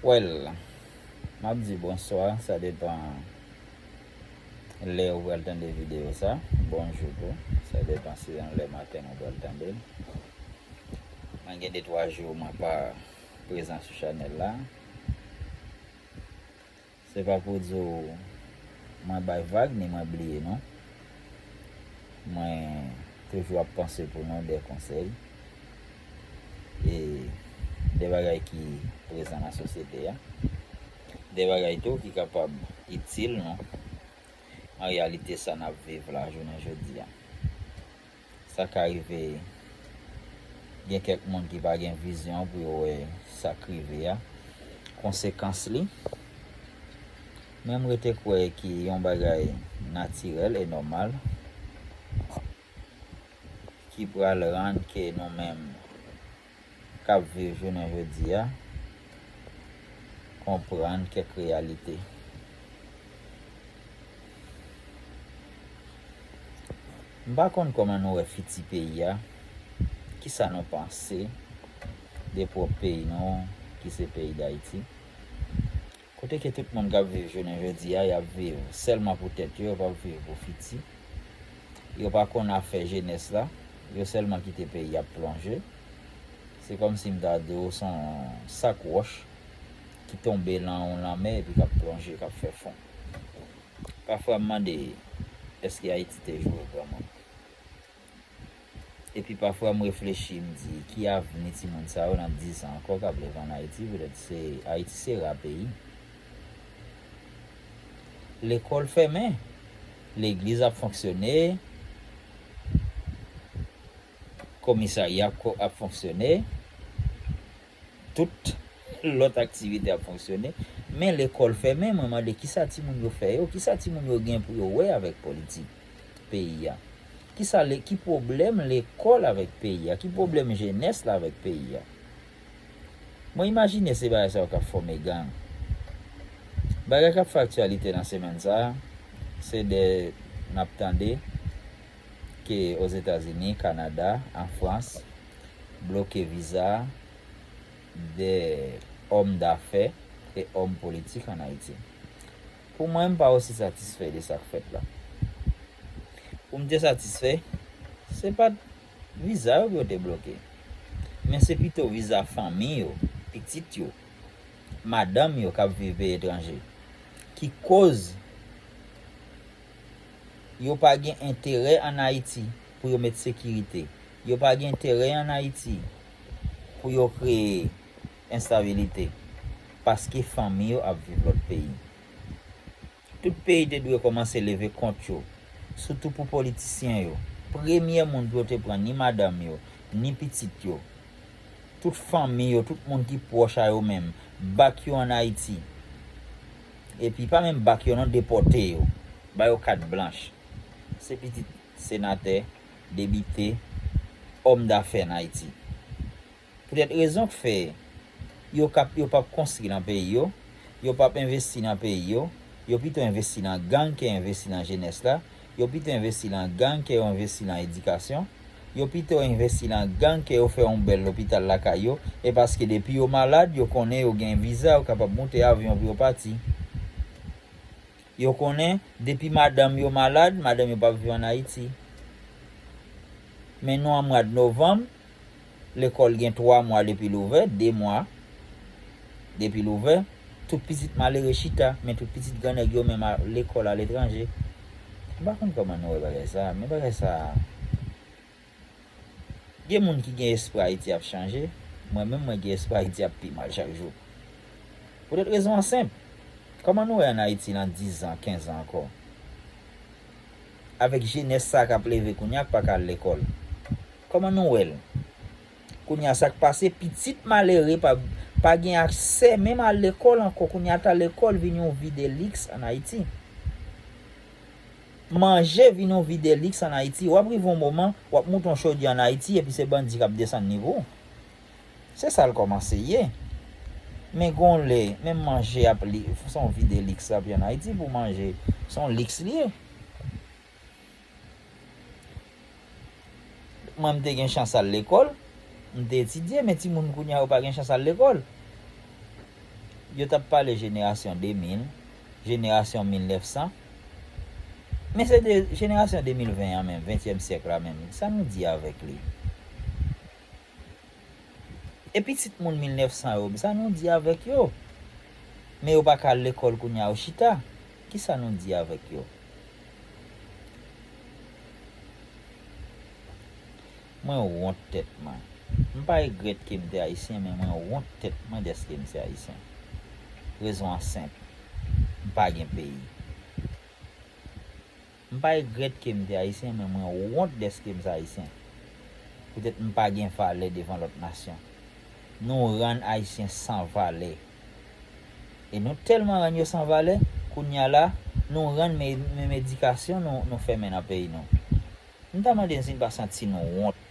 Well, map di bonswa, sa depan lè ou pral tande video sa, bonjou tou, sa depan si yon lè maten ou pral tande l. Mwen gen 2 3 jou mwen pa prezan sou chanèl la. Se pa pou di w mwen bay vag ni mwen bliye nou. Mwen toujou ap panse pou nou de konsèy e de bagay ki prezan nan sosyete a. De bagay tou ki kapab itil nou an reyalite sa n ap viv la jounen jodi a. Sa ka rive gen kèk moun ki pa gen vizyon pou yo wè sa k rive a, konsekans li. Men m rete kwè ki yon bagay natirèl e nòmal ki pral rann ke nou menm. k ap viv jounen jodi a konprann kèk reyalite. M pa konn kòman nou wè fiti peyi a, ki sa nou panse de pwòp peyi nou ki se peyi Dayiti. Kote ke tout moun kap viv jounen jodi a yap viv sèlman pou tèt yo, yo pap viv pou fiti. Yo pa konn afè jenès la, yo sèlman kite peyi ap plonje. Se kòm si m ta di w son sak wòch ki tonbe lan yon lanmè epi kap plonje, kap fè fon. Pafwa m mande, èske Ayiti te jwe vreman? Epi pafwa m reflechi m di ki avni timoun sa yo nan 10 an ankò kap leve an Ayiti petèt se Ayiti se ra peyi lekòl fèmen legliz ap fonksyone komisarya ap fonksyone Tout lòt aktivite ap fonksyone, men lekòl fèmen, mwen mande kisa timoun yo fè yo, kisa timoun yo gen pou yo wè avèk politik peyi a? Kisa le, ki pwoblèm lekòl avèk peyi a? Ki pwoblèm jenès la avèk peyi a? Mwen imajine se bagay sa yo kap fòme gang. Bagay kap fè aktyalite nan semèn sa a, se de, nap tande, ke Ozetazini, Kanada an Frans bloke viza 2 òm dafè e òm politik an Ayiti. Pou mwen, m pa osi satisfè de sa k fèt la. Pou m te satisfè, se pa t viza yo pou yo te bloke, men se pito viza fanmi yo, pitit yo, madanm yo k ap viv peyi etranje ki koz. Yo pa gen enterè an Ayiti pou yo met sekirite. Yo pa gen enterè an Ayiti pou yo kreye enstabilite. Paske fanmi yo ap viv lòt peyi. Tout peyi te dwe kòmanse leve kont yo. Soutou pou politisyen yo. Premye moun pou yo te pran ni madanm yo, ni pitit yo. Tout fanmi yo, tout moun ki pwòch a yo menm. Bak yo an Ayiti. Epi pa menm bak yo non depote yo ba yo kat blanch se pitit senatè debite òm dafè an ayiti poutèt rezon k fè yo kap yo pap konstri nan peyi yo yo pap envesti nan peyi yo yo pito envesti nan gang ke envesti nan jenès la Yo pito envesti lan gang ke yo envesti lan edikasyon, yo pito envesti lan gang ke yo fè yon bèl lopital lakay yo, e paske depi yo malad yo konnen yo gen viza yo kapab moute avyon pou yo pati. Yo konnen depi madanm yo malad, madanm yo pap viv an Ayiti. Men nou an mwad novanm, Lekòl gen 3 mwa depi l ouvè, 2 mwa depi l ouvè. Tout pitit malere chita, men tout pitit gran nèg yo menm al lekòl aletranje. M pa konn kòman nou wè bagay sa a, men bagay sa a. Gen moun ki gen espwa Ayiti ap chanje, mwen menm mwen gen espwa Ayiti ap pi mal chak jou. Poutèt rezon an senp, kòman nou wè ann Ayiti lan dizan, kenzan ankò? avèk jenès sa kap leve kounya pa ka al lekòl kòman nou wèl kounya sak pase pitit malere pa pa gen aksè menm al lekòl ankò kounya ata lekòl vin yon vi de liks an ayiti manje vin yon vi de liks an ayiti wap rive yon moman wap moute yon chodyè an ayiti epi se bandi kap desann liv ou. Se sa l kòmanse ye. Men gon lè, menm manje ap li, se yon vi de liks l ap ye ann Ayiti pou manje. Se yon liks li ye. Mwen m te gen chans al lekòl, m te etidye, men timoun kounye a yo pa gen chans al lekòl. Yo t ap pale jenerasyon 2000, jenerasyon 1900. Men se de jenerasyon 2020 an menm, ventyèm syèk la menm, sa nou di avèk li? E pitit moun 1900 yo msa nou di avèk yo? Men yo pa ka al lekòl kounya yo chita, kisa nou di avèk yo? Mwen wont tèt mwen. Mpa egrèt kem te ayisyen men mwen wont tèt mwen dèske mse ayisyen. Rezon an senp, mpa gen peyi. M pa egrèt ke m te Ayisyen, men mwen wont dèske m se Ayisyen. Poutèt m pa gen valè devan lòt nasyon. Nou rann Ayisyen san valè. E nou tèlman rann yo san valè, kounye a la, nou rann menm edikasyon nou, nou fèmen nan peyi nou. M ta mande n si n pa santi nou wont.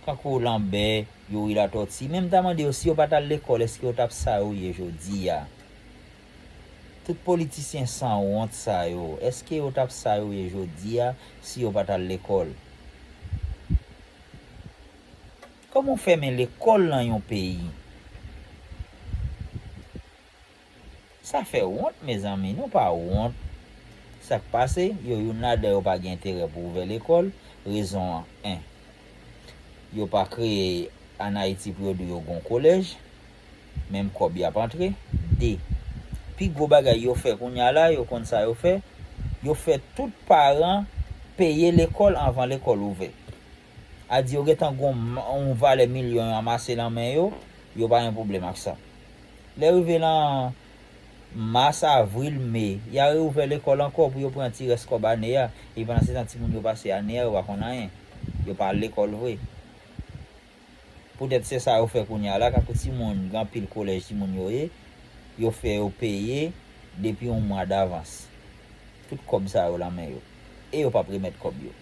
Kankou Lanbè, Youri Latòti, men m ta mande yo si yo pa t al lekòl èske yo t ap sa yo ye jodi a? Tout politisyen san wont sa yo, eske yo tap sa yo ye jodi a si yo pat al lekòl? Kòman ou fèmen lekòl nan yon peyi? Sa fè wont mezanmi, nou pa wont. Sak pase, yo youn ladan yo pa gen enterè pou ouvè lekòl, rezon an 1. Yo pa kreye an Ayiti pou yo di yo gon kolèj. menm kòb yap antre, 2 pi gwo bagay yo fè kounya la yo konn sa yo fè, yo fè tout paran peye lekòl anvan lekòl ouvè. A di yo gentan gon yon valè milyon yo anmase lan men yo, yo pa gen pwoblèm ak sa. Lè rive lan mas, avril, me, ya reouvè lekòl ankò pou yo pran ti rès kòb ane a, epi pandan se tan ti moun yo pase ane a yo pa konn anyen, yo pa al lekòl vre. Poutèt se sa yo fè kounye a la, tankou timoun gen anpil kolèj timoun yo ye, yo fè yo peye depi yon mwa davans. Tout kòb sa yo lan men yo. E yo p ap remèt kòb yo.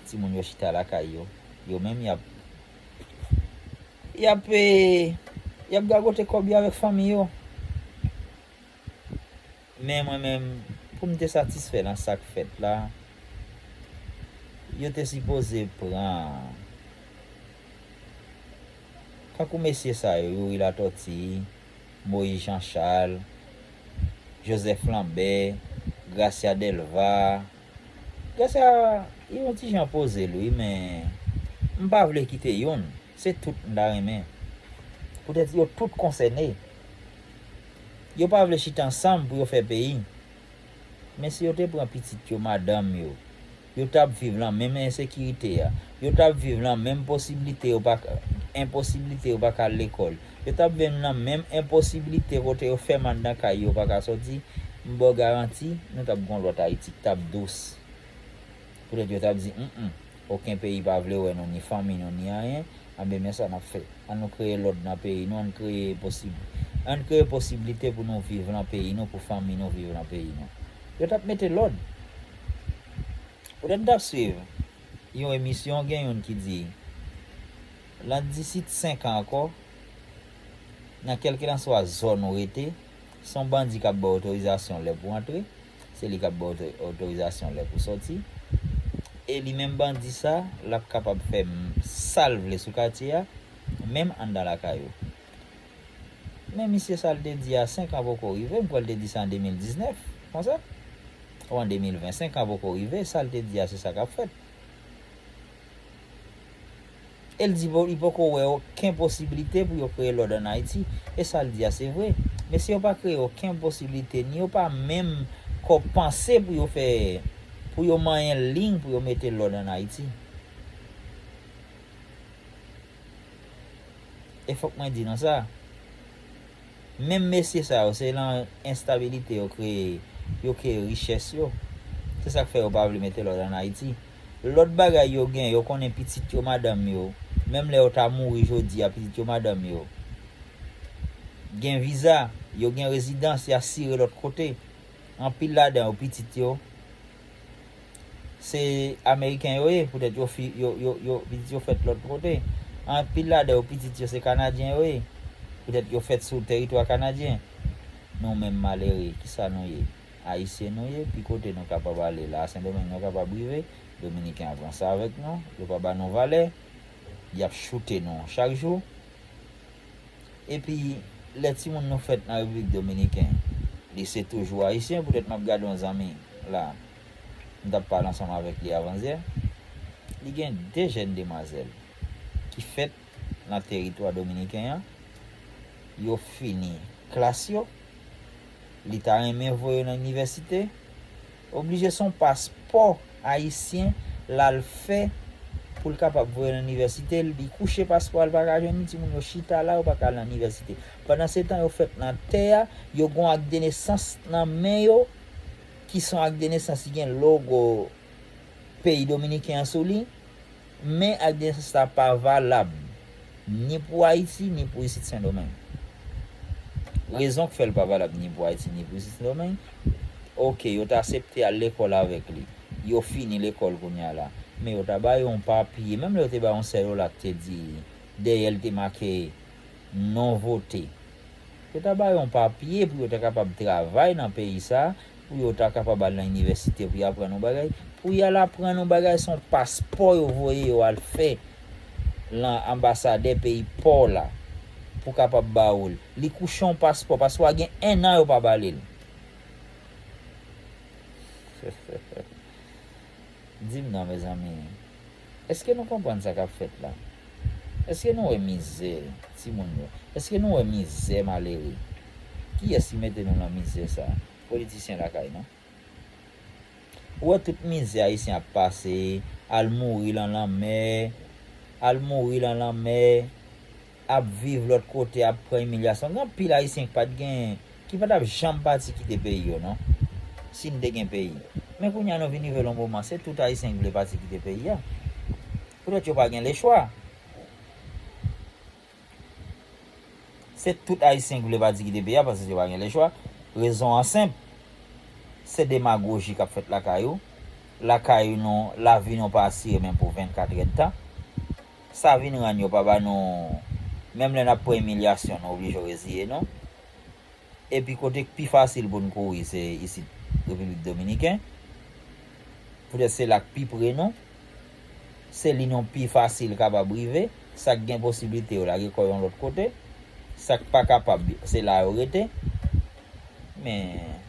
Timoun yo chita lakay yo, yo menm y ap, y ap, y ap gagote kòb yo avèk fanmi yo. Men mwen menm, pou m te satisfè nan sa k fèt la, yo te sipoze pran tankou mesye sa yo, Youri Latòti, Moyiz Janchal, Jozèf Lanbè, Grasya Dèlva. Grasya yon ti jan poze l wi men m pa vle kite youn. Se tout m ta renmen. Poutèt yo tout konsène. Yo pa vle chita ansanm pou yo fè peyi. Men si yo te pran pitit yo, madanm yo, yo t ap viv lan menm ensekirite a, yo t ap viv lan menm posibilite yo pa enposibilite yo pa ka al lekòl, yo t ap viv lan menm enposibilite kote yo fèm anndan kay yo pa ka soti, m ba w garanti nou t ap gen yon lòt Ayiti k t ap dous. Poutèt yo t ap di, Mh, oken peyi pa vle wè nou, ni fanmi nou, ni anyen, anben men sa n ap fè, An nou kreye lòd nan peyi nou, an n kreye posib, an n kreye posiblite pou nou viv lan peyi nou, pou fanmi nou viv lan peyi nou. Yo t ap mete lòd. Poutèt m t ap suiv yon emisyon, gen youn ki di, Lan disit senkan ankò, nan kèlkelanswa zòn ou rete, Son bandi kap baw otorizasyon lè pou antre, se li kap baw otorizasyon lè pou sòti. E li menm bandi sa, lap kapab fè sal vle sou katye a, menm anndan lakay ou. Men misye sal te di a 5 an poko rive, mkwè li te di sa an 2019, konsa? Ou an 2020, 5 an poko rive, sal te di a se sa kap fèt. E l di li poko wè oken posiblite pou yo kreye lòd an Ayiti. E sa l di a se vre. Men si yo pa kreye oken posiblite ni yo pa menm ko panse pou yo fè, pou yo manyen ling pou yo mete lòd an Ayiti. E fòk mwen di nou sa, menm mesye sa yo se lan enstabilite yo kreye, yo kreye richès yo. Se sa k fè yo pa vle mete lòd an Ayiti. Lòt bagay yo gen, yo konnen pitit yo madanm yo, menm lè yo ta mouri jodi a pitit yo madanm yo gen viza, yo gen rezidans, y asire lòt kote. Anpil ladan yo pitit yo se ameriken yo ye poutèt yo fi yo yo yo pitit yo fèt lòt kote. Anpil ladan yo pitit yo se kanadyen yo ye poutèt yo fèt sou teritwa kanadyen. Nou menm malere kisa nou ye? Ayisyen nou ye, ki kote nou kapab ale la a Sendomeng nou kapab rive, Dominiken ap ranse avèk nou, yo pa ba nou valè, y ap choute nou chak jou. Epi, lè timoun nou fèt nan Repiblik Dominiken, li se toujou Ayisyen, poutèt m ap gade yon zanmi la a, m t ap pale ansanm avèk li avansyè, li gen de jèn demwazèl ki fèt. nan teritwa dominiken an, yo fini klas yo, li ta renmen voye yo nan inivèsite, oblije se yon paspò ayisyen l al fè pou l kapab voye yo nan inivèsite, li kouche paspò a li pa ka jwenn li, timoun yo chita la, yo pa ka al nan inivèsite. Pandansetan yo fèt nan tè a, yo gen yon akdenesans nan men yo ki se yon akdenesans ki gen logo peyi dominiken an sou li, Men alyans sa pa valab ni pou Ayiti ni pou Isit Sendomeng. Rezon k fè l pa valab ni pou Ayiti ni pou Isit Sendomeng, ok yo t asepte al lekòl avèk li, yo fini lekòl kounye a la, men yo ta ba yo yon papye, menm lè yo te ba yon sèl ola k te di dèyè l te make non vote, yo ta ba yo yon papye pou yo ta kapab travay nan peyi sa Pou yo ta kapab al nan inivèsite pou y aprann yon bagay. Pou y al aprann yon bagay se yon paspò yo voye yo al fè lan anbasadè peyi pa w la pou kapab ba ou l. Li kouche yon paspò paske wa gen ennan yo pa ba li l. Di m non mezanmi, èske nou konprann sa k ap fèt la? Èske nou wè mizè timoun yo? Èske nou wè mizè malere? Kiyès ki mete nou nan mizè sa a? Politisyen lakay non. Ou wè tout mizè Ayisyen ap pase, al mouri lan lanmè, al mouri lan lanmè, ap viv lòt kote ap pran imilyasyon gen anpil ayisyen ki pat gen ki pa tap janm pati kite peyi yo non si n te gen peyi men kounya nou vin rive lon moman se tout ayisyen ki vle pati kite peyi a poutèt yo pa gen lechwa se tout ayisyen ki vle pati kite peyi a paske yo pa gen lechwa rezon an senp se demagoji kap fèt lakay ou lakay nou lavi nou pa asire menm pou 24 èdtan. Sa vin rann yo pa ba nou menm lè n ap pran imilyasyon nou oblije reziye nou epi kote k pi fasil pou n kouri se isit Repiblik Dominiken poutèt se la k pi pre nou se li nou pi fasil kapab rive sa k gen posiblite yo lage kò yon lòt kote sa k pa kapab se la yo rete men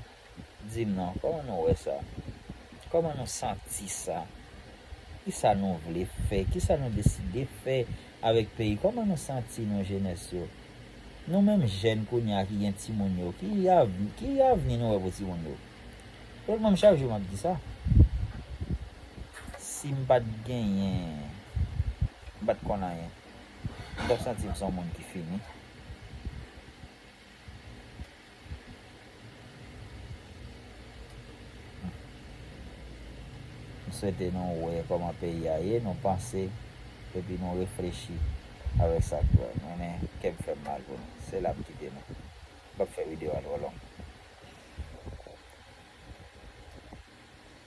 Di m non, kòman nou wè sa? Kòman nou santi sa? Ki sa nou vle fè? Ki sa nou deside fè avèk peyi? Kòman nou santi nou jenès yo? Nou menm jèn kounye a ki gen timoun yo, ki avni nou wè pou timoun yo? Yo di m chak jou m ap di sa. Si m pa t genyen, m pa t konn anyen. M t ap santi m s on moun ki fini. M swete nou wè kòman peyi a ye, nou panse epi nou reflechi avèk sa k dwèt. Mennen kè m fè m mal pou nou. Se la m kite nou. M p ap fè videyo a twò long.